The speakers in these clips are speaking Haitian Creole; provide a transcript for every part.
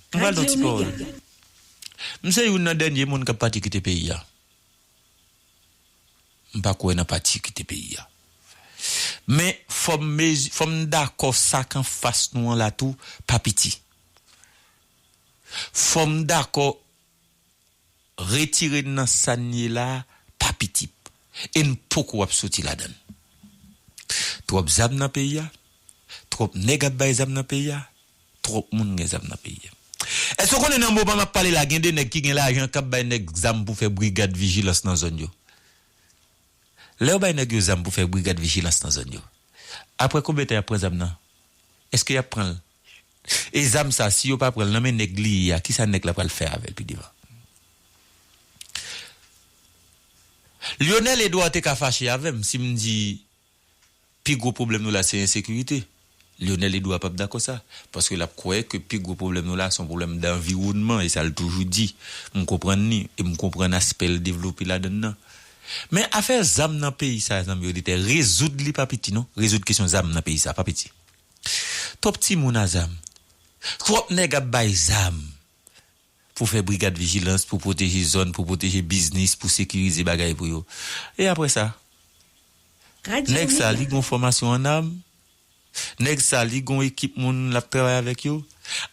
Mwen pral di yon ti pawòl. M se youn nan dènye moun k ap pati kite peyi a. M pa kwè nan pati kite peyi a. Men fò m mezi, fò m dakò sa k anfas nou an la tou pa piti. Fò m dakò retire n nan sa n ye la pa piti e n poko ap soti ladan l. Twòp zam nan peyi a, twòp nèg ap bay zam nan peyi a, twòp moun gen zam nan peyi a. Èske w konnen nan moman m ap pale la gen de nèg ki gen lajan k ap bay nèg zam pou fè brigad vijilans nan zòn yo? Lè yo bay nèg yo zam pou fè brigad vijilans nan zòn yo, aprè konbyen tan y ap pran zam nan? Èske y ap pran l E zam sa si yo pa pranl nan men nèg li ye a kisa nèg la pral fè avèl pi devan? Lyonel Edouard te ka fache avèm si m di pi gwo pwoblèm nou la se ensekirite. Lyonel Edouard pap dakò sa. Paske lap kwè ke pi gwo pwoblèm nou la se yon pwoblèm danviwònman e sa l toujou di. M konprann li e m konprann aspè l devlope ladann nan. Men afè zam nan peyi sa zanmi oditè rezoud li pa piti non. Rezoud kesyon zam nan peyi sa pa piti. Twòp timoun a zam. Twòp nèg ap bay zam pou fè brigad vijilans, pou pwoteje zòn, pou pwoteje biznis, pou sekirize bagay pou yo. E apre sa? Nèg sa li gon fòmasyon an am? Nèg sa li gon ekip moun l ap travay avèk yo?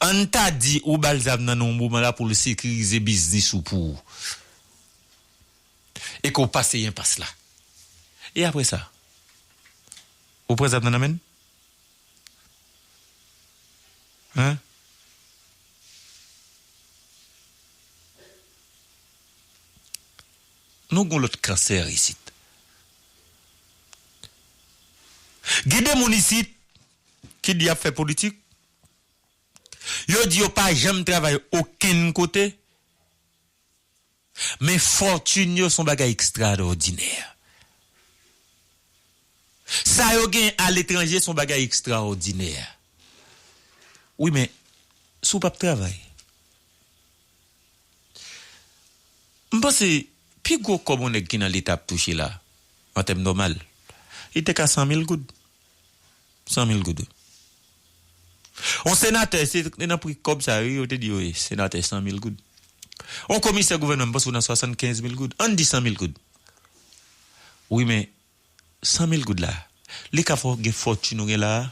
An n ta di ou ba l zam nan nan yon moman la pou l sekirize biznis ou pou ou. E ke w pase enpas la. E apre sa? Ou pran zam nan nan men l? Hein? Nou gon lòt cancer isit. Gen de moun isit ki di yap fè politik, yo di yo pa janm travay okenn kote, Men fòtin yo son bagay ekstradòdinè. Sa yo gen aletranje son bagay ekstrawòdinè. Wi men, si w pap travay. M panse, pi gwo kòb yon nèg ki nan leta ap touche la, an tèm nòmal, li te ka 100 mil goud. 100 mil gouden. On senatè, se te nan pri kòb sa yo wi yo te di yo ye senatè 100 mil goud. On komisè gouvènman m panse ou nan 75 mil goud. Ann di 100 mil goud. Wi men 100 mil goud la, li ka fè w gen fòtin ou gen la a?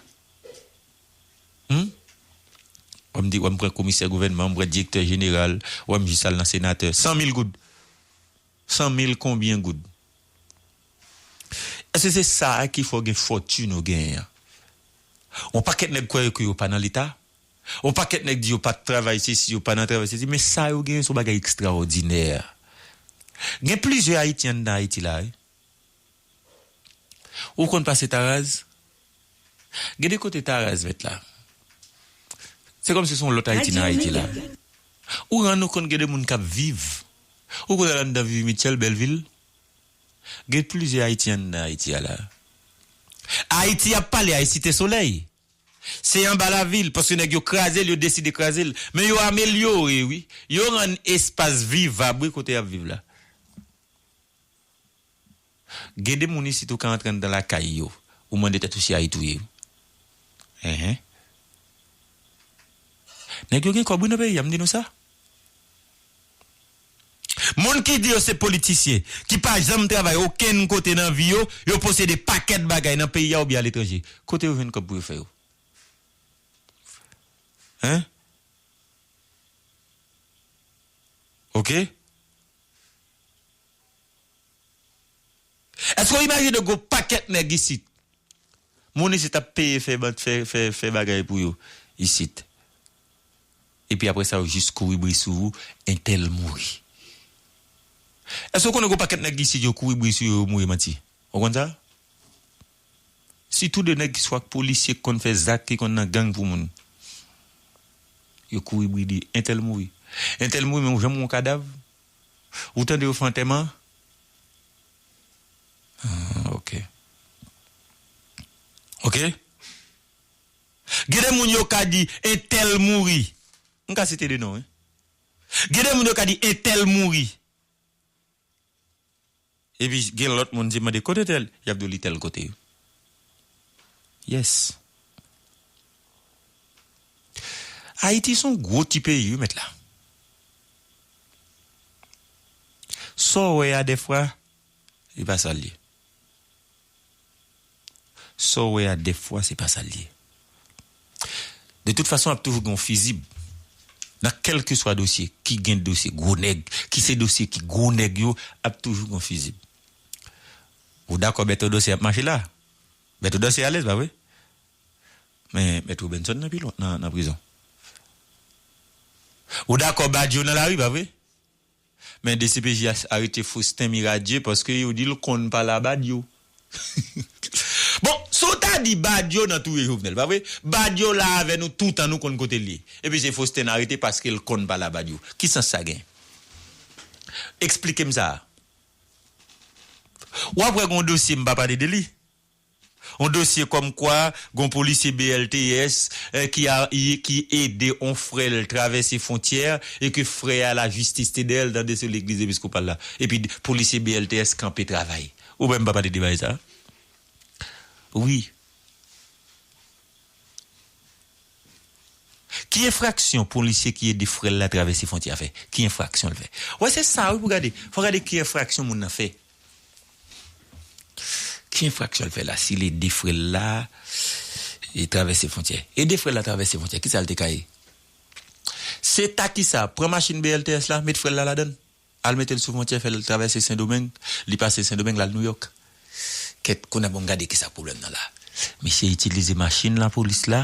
Hum? Wè m di wè m pran komisè gouvènman, m pran direktè jeneral, wè m jis al nan senatè. 100 mil goud! 100 mil konbyen goud? Eske se sa a ki fè w gen fòtin ou genyen an? On pakèt nèg kwè ke yo pa nan leta, on pakèt nèg di yo pa travay sesi, yo pa nan travay sesi, men sa yo genyen se yon bagay ekstraòdinè. Gen plizyè Ayityen anndan Ayiti la a wi. Ou konn pase Taraz? Gen de kote Taraz fèt la, se kòmsi se yon lòt Ayiti nan Ayiti la. Ou rann ou kont gen de moun k ap viv, ou konn al anndan Vivi Mitchell, bèl vil. Gen plizyè Ayiti anndan Ayiti a la. Ayiti ap pale a e Site Solèy. Se anba lavil, paske nèg yo kraze l, yo deside kraze l. Men yo amelyore wi. Yo rann espas vivab wi kote y ap viv la. Gen de moun isit ou ka antre anndan lakay yo, ou mande tèt ou si Ayiti ou ye wi. Enhen. Nèg yo gen kòb wi nan peyi a, m di nou sa. Moun ki di yo se politisyen, ki pa janm travay okenn kote nan vi yo, yo posede pakèt bagay nan peyi a oubyen aletranje. Kote yo jwenn kòb pou yo fè yo? Hein? Ok? Èske w imajine gen yon pakèt nèg isit, moun isit ap peye fè, fè, fè bagay pou yo isit? Epi aprè sa yo jis kouri bri sou ou entèl mouri. Èske ou konnen gen yon pakèt nèg isit yo kouri bri sou yo yo mouri manti? Ou konn sa? Sitou de nèg ki swa k polisye k konn fè zak ki konn nan gang pou moun. Yo kouri bri di entèl mouri. Entèl mouri men ou janm wè yon kadav? Ou tande yo fè antèman? Ahh ok. Ok? Gen de moun yo ka di entèl mouri. M ka site de non wi. Gen de moun yo ka di entèl mouri. Epi gen lòt moun si m mande kote tèl, y ap di w li tèl kote. Yes. Ayiti s on gwo ti peyi wi mèt la. Sa w wè a dèfwa, li pa sa l ye. Saw wè a dèfwa se pa sal ye. De tout fason ap toujou gen yon fizib nan kèlkeswa dosye ki gen dosye gwo nèg ki se dosye ki gwo nèg yo ap toujou gen yon fizib. Ou dakò Bèto Dòsè ap mache la? Bèto Dòsè alèz pa vre? Men Mèt Robinson nan pilon nan prizon. Ou dakò Badjo nan lari pa vre? Men dcpj arete Faustin Miradieu paske yo dil konn pale a Badio. Bon sa w ta di Badio nan touye Jovenel pa vre? Badio la avè nou toutan nou konn kote l ye. Epi se Faustin n arete paske l konn pale a Badio. Ki sans sa gen? Eksplike m sa. W ap wè gen yon dosye m pa pale de li. Yon dosye kòm kwa gon polisye BLTS ki a ki ede on frè l travèse fontyè e ke frè a la jistis te dèyè l tande sou legliz episkopal la epi polisye BLTS kanpe travay ou menm pa pale de bagay sa wi ki enfraksyon polisye ki ede frè l la travèse fontyè a fè ki enfraksyon l fè wè se sa wi pou gade fò gade ki enfraksyon moun nan fè. Ki enfraksyon l fè la si l ede frè l la travèse fwontyè? Ede frè l la travèse fwontyè, kisa l te ka ye? Se ta kisa? Pran machin BLTS la, met frè l la ladan l, al mete l sou fwontyè, fè l travèse Sendomeng, li pase Sendomeng, l al Nouyòk. Kèt, kounye a bon gade kisa pwoblèm nan la. Misye itilize machin lapolis la,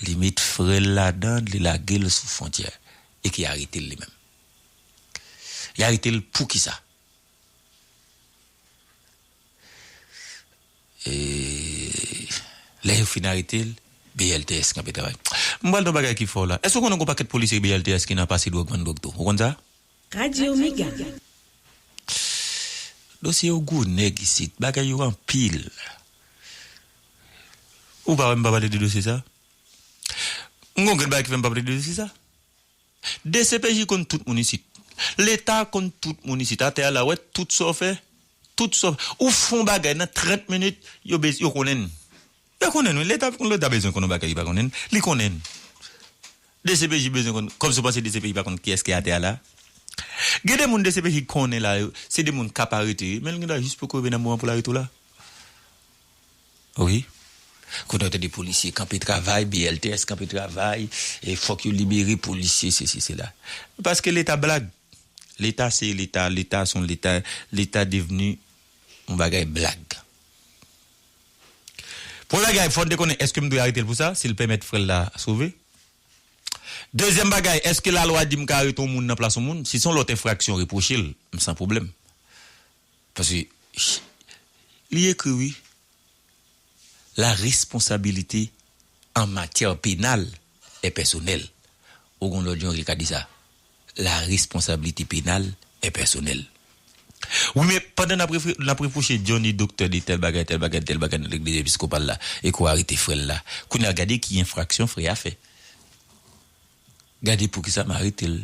li met frè l ladan l, li lage l sou fwontyè. Epi y arete l li menm. Y arete l poukisa? E lè yo fin arete l, BLTS kanpe travay. M pral di yon bagay ki fè w la. Èske w konnen gen yon pakèt polisye BLTS ki nan pase dwòg, vann dwòg tou? Ou konn sa? Radio Omega. Dosye yo gwo nèg isit. Bagay yo anpil. Ou pa wè m pa pale de dosye sa? M gen yon grenn bagay ki fè m pa pale de dosye sa? Dcpj konn tout moun isit. Leta konn tout moun isit. Atè a la ou wè tout sa w fè? Tout sa w fè. Ou fè yon bagay nan 30 minit, yo be, yo konnen. Yo konnen wi. Leta pou leta bezwen konn yon bagay li pa konnen, li konnen. Dcpj bezwen konn, kòm si w panse dcpj pa konn kiyès ki atè a la. Gen de moun dcpj konnen la, se de moun k ap arete yo, men l gen dwa jis poko rive nan moman pou l arete w la. wi kote wap tande polisye kanpe travay BLTS kanpe travay e fòk yo libere polisye sesi sela paske leta blag leta se leta leta son leta leta devni yon bagay blag premye bagay fòn te konnen èskem dwe aretel pou sa sil pèmèt frèl la sove dezyèm bagay èske lalwa dim ka arete yon moun nan plas yon moun si son lòt enfraksyon repwochel m san pwoblèm. Paske li ekri wi la responsabilite an matyè penal è pèsonèl ou gon lòt jan ki ka di sa la responsabilite penal è pèsonèl wi men pandan nap refre nap repwoche Johnny doktè de tèl bagay tèl bagay tèl bagay nan legliz episkopal la eko arete frèl la kounya gade ki enfraksyon frè a fè gade poukisa m aretel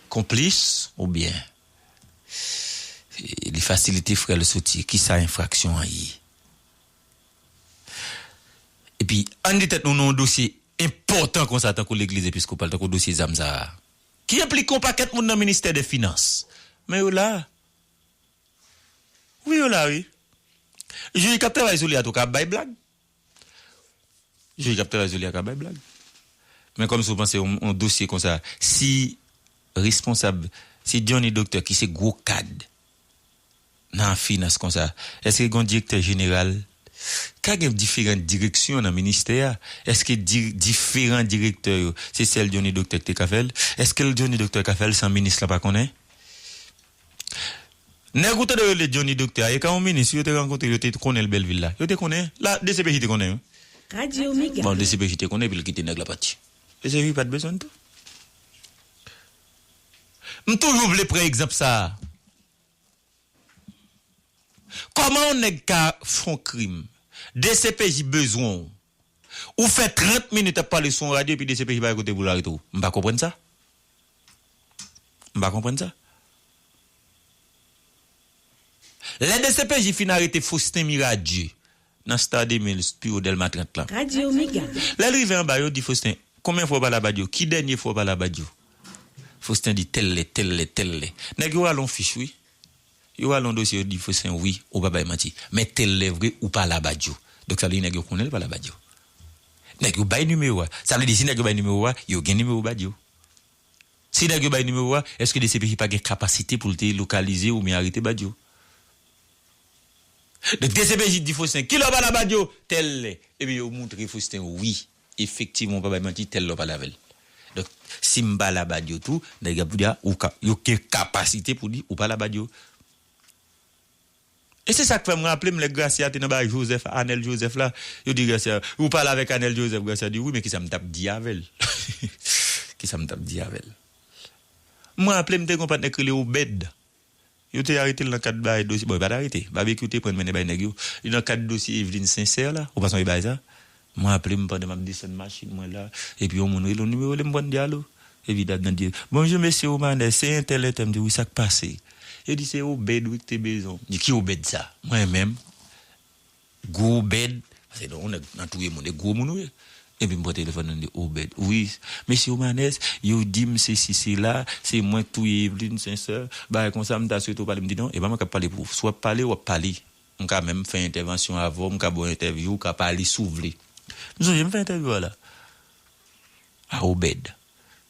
konplis oubyen. Li fasilite frè l soti. Ki sa enfraksyon an ye? Epi, ann di tèt nou nan yon dosye enpòtan kon sa tankou legliz episkopal, tankou dosye zam sa a, ki enplike yon pakèt moun nan ministè dè finans, men yo la. Wi yo la wi. Jij k ap travay sou li atouka ap bay blag. Jij kap travay sou li a ka bay blag. Men kòmsi ou panse yon dosye konsa si responsab si Johnny Docteur ki se gwo kad nan finans konsa eske gon direktè jeneral ka gen diferan direksyon nan ministè a eske diferan direktè yo se sèl Johnny Docteur ki te ka fèl eske Johnny Docteur ka fèl san minis la pa konnen? Nèg ou tande rele Johnny Doktè a e kan on minis si yo te rankontre yo te konnen l Bèlvil la. Yo te konnen. La dcpj te konnen wi. Bon dcpj te konnen epi l kite nèg la pati. Dcpj pat bezwen l tou. M toujou vle pran egzanp sa a. Kòman on nèg ka fon krim. Dcpj bezwen w Ou fè 30 minit ap pale sou yon radyo epi dcpj pa gen kote pou l arete w. M pa konprann sa. M pa konprann sa. Lè dcpj fin arete Faustin Miradieu nan Star 2000 st piwo Dèlma 30 lan. Radio Mega. Lè l rive anba yo di Faustin, konbyen fwa w pale a Badio? Ki dènye fwa w pale a Badio? Faustin di tèl lè, tèl lè, tèl lè. Nèg yo rale yon fich wi. Yo ale yon dosye yo di fo sen wi ou pa bay manti men tel lè vre ou pa labadjo donk sa vle di nèg yo konnen li pa labadjo nèg yo bay nimewo a sa vle di si nèg yo bay nimewo a yo gen nimewo badjo si nèg yo bay nimewo a eske dcpj pa gen kapasite poul te lokalize oubyen arete badjo donk dcpj di fo sen kilè ou pa labadjo tèl lè ebyen yo moutre fo sen wi Efektivman ou pa bay manti tel lè ou pale avèl. Donk sim pa labad yo tou nèg yo ap di a ou ka yo gen kapasite pou di ou pa labad yo. E se sak fèm raplem lè Gracia te nan bagay Joseph Anel Joseph la yo di Gracia ou pale avèk Anel Joseph Gracia di wi men kisam tap di avèl kisam tap di avèl. M raplem te gen yon patnè k rele Obed. Yo te arete l nan kad bay dosye, bon yo pa t arete, Babekyou te pran l mennen bay nèg yo, li nan kad dosye Evelyne Sincère la, ou pa sonje bagay sa? Mwen aple m pandan m ap desann machin mwen la, epi yon moun rele m nimewo li m pran m di alo, epi dam nan di, Bonjou mesye Romanè, se entèl entèl, m di wi sa k pase? Yo di se Obed wi ki te bezwen w, m di ki Obed sa? Mwen menm? Gwo Obed, pase non ou nèg nan touye moun e gwo moun ou ye. Epi m pran telefòn nan m di Obed, wi, mesye Omanès, yo di m sesi sela, se mwen k touye Evelyne Sincère, bagay konsa m ta swete w pale, m di non, e pa mwen k ap pale pou ou, si w ap pale, w ap pale, m ka menm fè entèvansyon avè w, m ka ba w entèvyou, ou ka pale si w vle. M sonje m fè entèvyou a la a Obed,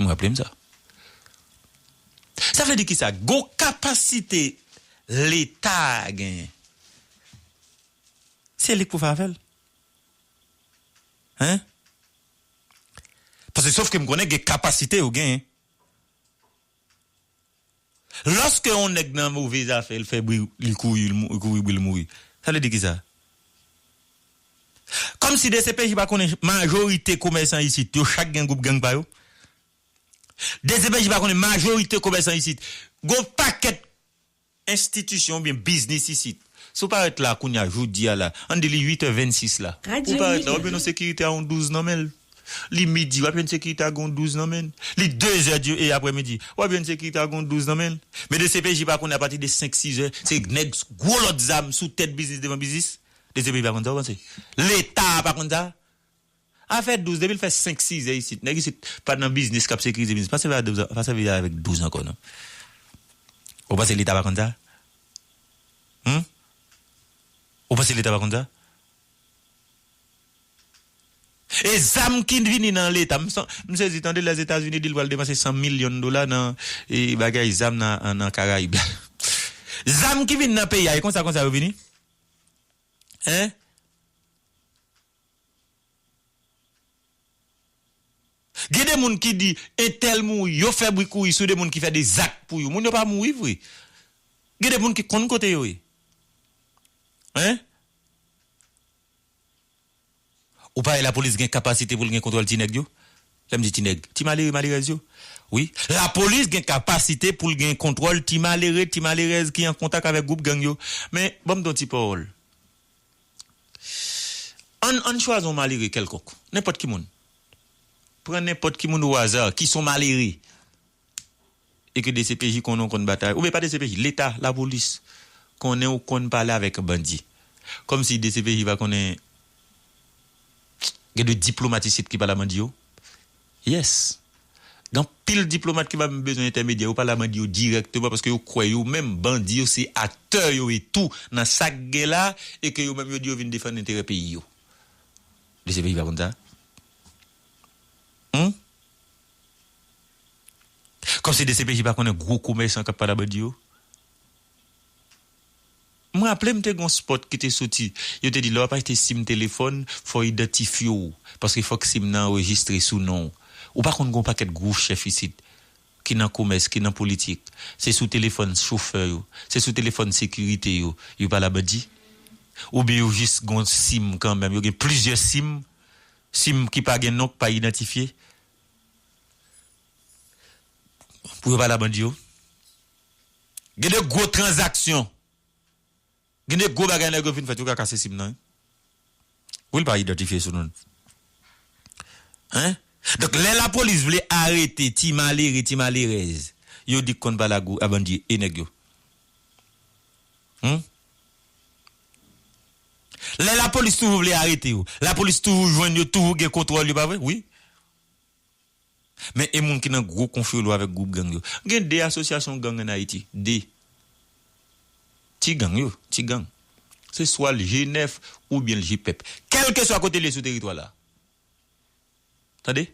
M raple m sa. Sa vle di ki sa? Gon kapasite Leta genyen. Se li k pou fè afè l. Hein? Paske sof ke m konnen gen kapasite yo genyen. Loske yon neg nan move zafe el fe bri li kouri li kouri bri li mouri sa vle di kisa? Komsi dcpj pa konnen majorite komesan isit yo chak gen group gang pa yo? Dcpj pa konnen majorite komesan isit gon paket Enstitisyon oubyen biznis isit. Si w parèt la kounye a, jodi a la, ann di li 8 è 26 la, ou parèt la, w ap jwenn yon sekirite a yon 12 nan men l. Li midi, w ap jwenn sekirite a gen yon 12 nan men l. Li 2 zè di e aprè midi, w ap jwenn sekirite a gen yon 12 nan men l. Men dcpj pa konnen apati de 5, 6 zè, se nèg gwo lòt zam sou tèt biznis devan biznis? Dcpj pa konn sa, ou panse? Leta a pa konn sa? Afè 12 depi l fè 5 sizè isit nèg isit pa nan biznis kap sekirize biznis pa sèvi avèk 12 pa sèvi avèk 12 ankò non ou panse leta pa konn sa humm ou panse leta pa konn sa e zam ki vini nan leta m san m sezi tande lè etazini di l pral depanse 100 milyon dola nan e bagay zam nan karayib la zam ki vini nan peyi a e konsa konsa yo vini hein. Gen de moun ki di entèl mouri yo fè bri kouri sou de moun ki fè de zak pou yo moun yo pa mouri vre gen de moun ki konn kote yo ye hein ou pare lapolis gen kapasite pou l gen kontwòl ti nèg yo lè m di ti nèg ti malere malerèz yo wi lapolis gen kapasite pou l gen kontwòl ti malere ti malerèz ki an kontak avèk gwoup gang yo men ban m di w yon ti pawòl. Ann ann chwazi yon malere kèlkonk, nenpòt ki moun. Pran nenpòt ki moun o aza ki son malere e ke dcpj konnen ou konn batay, oubyen pa dcpj, leta, lapolis konnen ou konn pale avèk bandi. Kòmsi dcpj pa konnen gen de diplomat isit ki pale a bandi yo? Yes! Gen anpil diplomat ki pa menm bezwen entèmedyè, yo pale a bandi yo dirèkteman paske yo kwè yo menm bandi yo se aktè yo ye tou nan sa k gen la e ke yo menm yo di yo vin defann enterè peyi yo. Dcpj pa konn sa? Hum? Kòmsi dcpj pa konnen gwo komèsan k ap pale a bandi yo? M raple m te gon spot ki te soti, yo te di lè wap achte sim telefòn fòw idantifye w paske fòk sim nan anrejistre sou non w. Ou pa konn gon pakèt gwo chèf isit ki nan komès, ki nan politik, se sou telefòn chofè yo, se sou telefòn sekirite yo, yo pale a bandi? Oubyen yo jis gon sim kanmenm, yo gen plizyè sim, sim ki pa gen non, ki pa idantifye pou yo pale a bandi yo? Gen de gwo tranzaksyon, gen de gwo bagay nèg yo fin fèt yo ka kase sim nan wi. Wi l pa idantifye sou non l. Hein? Donk lè lapolis vle arete ti malere, ti malerèz yo di k konn pale ak gou a bandi e nèg yo? Hum? Lè lapolis toujou vle arete yo, lapolis toujou jwenn yo, toujou gen kontwòl yo pa vre? Wi. Men e moun ki nan gwo konfyolo avèk gwoup gang yo. Gen 2 asosyasyon gang an Ayiti. 2. Ti gang yo, ti gang. Se swa l G9 oubyen l G-pep. Kèlkeswa kote l ye sou teritwa la. Tande!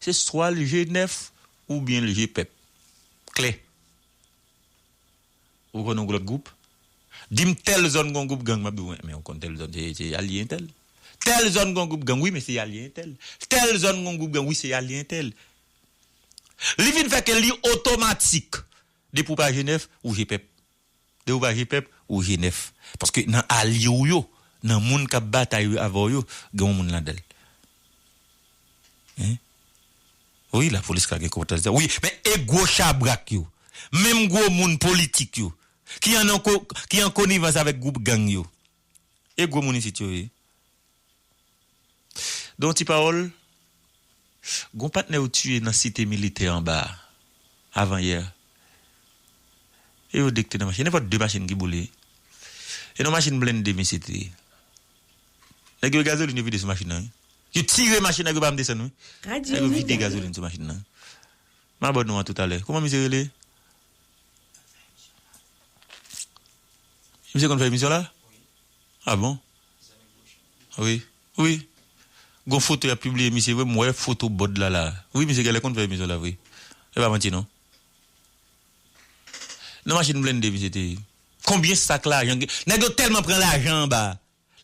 Se swa l G9 oubyen l G-pep. Klè! Ou konn yon lòt gwoup? Di m tèl zòn gon gwoup gang, m ap di w men men ou konn tèl zòn se alye entèl. Tèl zòn gon gwoup gang, wi men se alye entèl. Tèl zòn gon gwoup gang, wi se alye entèl. Li vin fè ke li otomatik. Depi ou pa je nèf, ou je pèp. Depi ou pa je pèp, ou je nèf. Paske nan alye w yo, nan moun k ap batay avè w yo, gen yon moun ladan l. Hein? Wi la polis ka gen konpetans wi men e gwo chabrak yo menm gwo moun politik yo ki an ki an konivans avèk gwoup gang yo e gwo moun isit yo ye don ti pawòl gon patnè yo tiye nan site militè anba a avan yè e yo 2 ki te nan machin nenpòt 2 machin ki boule e nan machin blende misye te ye Nèg yo gazolin yo vide sou machin nan wi. Yo tire machin nèg yo pa janm desann wi. Nèg yo vide gazolin sou machin nan. M abone nou a tout alè. Kouman misye rele? Misye konn fè emisyon la? A bon? Wi. Wi. Gon foto yap pibliye misye vre m wè foto bòd la la. Wi misye gèlè konn fè emisyon la vre. E pa manti non. Nan machin blende misye te ye. Konbyen sak lajan gen? Nèg yo tèlman pran lajan anba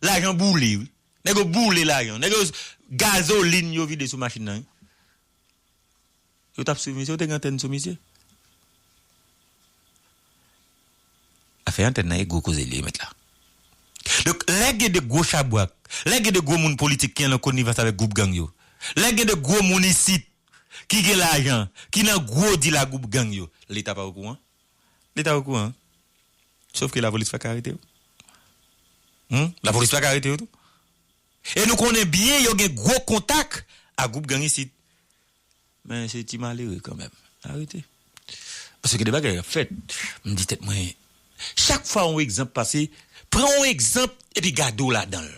Lajan boule wi. Nèg yo boule lajan. Nèg yo gazolin yo vide sou machin nan wi. Yo tap swiv misye, yo te gen antèn sou misye. Afè antèn nan e gwo koze li ye mèt la. Donk lè gen de gwo chabrak, lè gen de gwo moun politik ki anlan konivans avèk gwoup gang yo, lè gen de gwo moun isit ki gen lajan, ki nan gwo dil a gwoup gang yo, leta pa okouran? Li ta okouran. Sof ke lapolis pa ka arete yo. Humm, lapolis pa ka arete yo tou. E nou konnen byen yo gen gwo kontak ak gwoup gang isit. Men se ti malere kanmenm. Arete. Pase gen de bagay kap fèt. M di tèt mwen, chak fwa yon egzanp pase, pran yon egzanp epi gade w ladan l.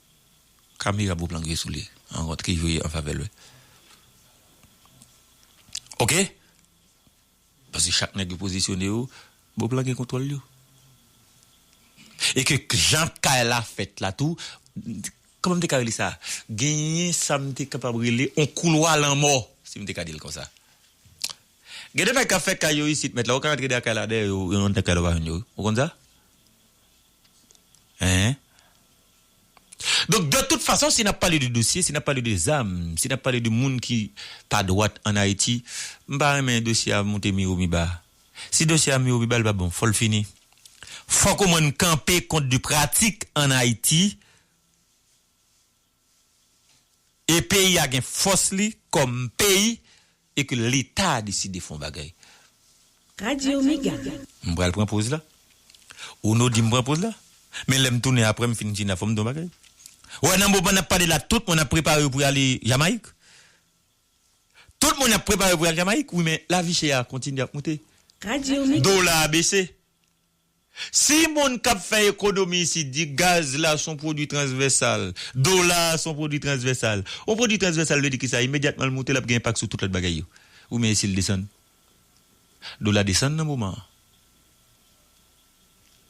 Camera boup lan gri sou li an ront ki jwe an favè l wi ok paske chak nèg yo pozisyone yo boup lan gen kontwòl yo e ke jan kay la fèt la tou kòman m te ka rele sa genyen sa m te kapab rele on koulwa lanmò si m te ka di l konsa gen de nèg k ap fè kay yo isit mèt la ou ka rantre dèyè kay la dèyè yo yo rantre nan kay la ou pa jwenn yo wi ou konn sa. Hein? Donk de tout fason si nap pale de dosye, si nap pale de zam, si nap pale de moun ki pa dwat an Ayiti, m pa renmen dosye a moute mi wo mi ba. Si dosye a mi wo mi ba li pa bon, fò l fini. Fòk omwen n kanpe kont de pratik an Ayiti e peyi a gen fòs li kòm peyi e ke leta a deside fon bagay. Radio mega. M pral pran poz la. Ou no dim pran poz la. Men lèm tounen aprè m fin China fòm di yon bagay. Ou wè nan moman nap pale la tout moun ap prepare yo pou yo ale Jamayik. Tout moun ap prepare yo pou yo al Jamayik wi men lavi chè a kontinye ap moute. Radio mega. Dola a bese. Si moun k ap fè ekonomi isit di gaz la s on pwodui transvèsal, dola a s on pwodui transvèsal, on pwodui transvèsal vle di ki sa? Imedyatman l moute l ap gen enpak sou tout lòt bagay yo. Ou men e si l desann? Dola desann nan moman an.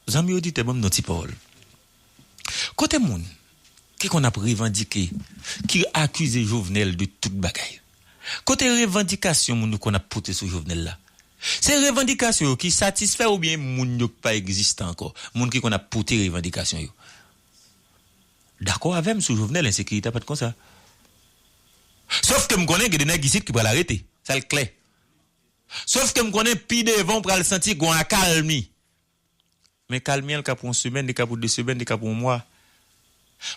Zanmi oditè, ban m yon ti pawòl. Kote moun ki konn ap revandike ki akize Jovenel de tout bagay? Kote revandikasyon moun yo konn ap pote sou Jovenel la? Se revandikasyon yo ki satisfè oubyen e moun yo ki pa egzistan ankò? Moun ki konn ap pote revandikasyon yo dakò avè m sou Jovenel ensekirite a pa t konsa. Sof ke m konnen gen de nèg isit ki pral arete. Sa l klè. Sof ke m konnen pi devan ou pral santi gon akalmi Men kalmyèl ka pou yon semèn, li ka pou 2 semèn, li ka pou yon mwa.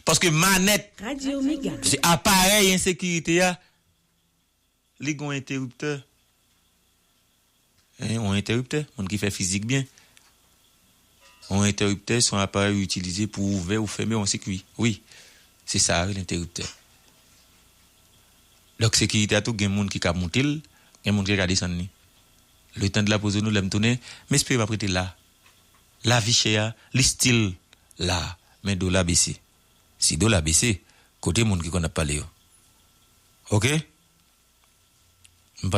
Paske manèt. Radio Mega. Paske aparèy ensekirite a, li gen yon enteriptè. Hein, yon enteriptè, moun ki fè fizik byen. Yon enteriptè se yon aparèy ou itilize pou ouvè ou fèmen yon sikwi. Wi. Se sa a rele enteriptè. Donk sekirite a tou gen moun ki ka moute l, gen moun ki ka desann li. Le tan de la pose nou lèm tounen m espere map rete la lavi chè a li still la men dola bese si dola bese kote moun ki konn ap pale yo ok m pa.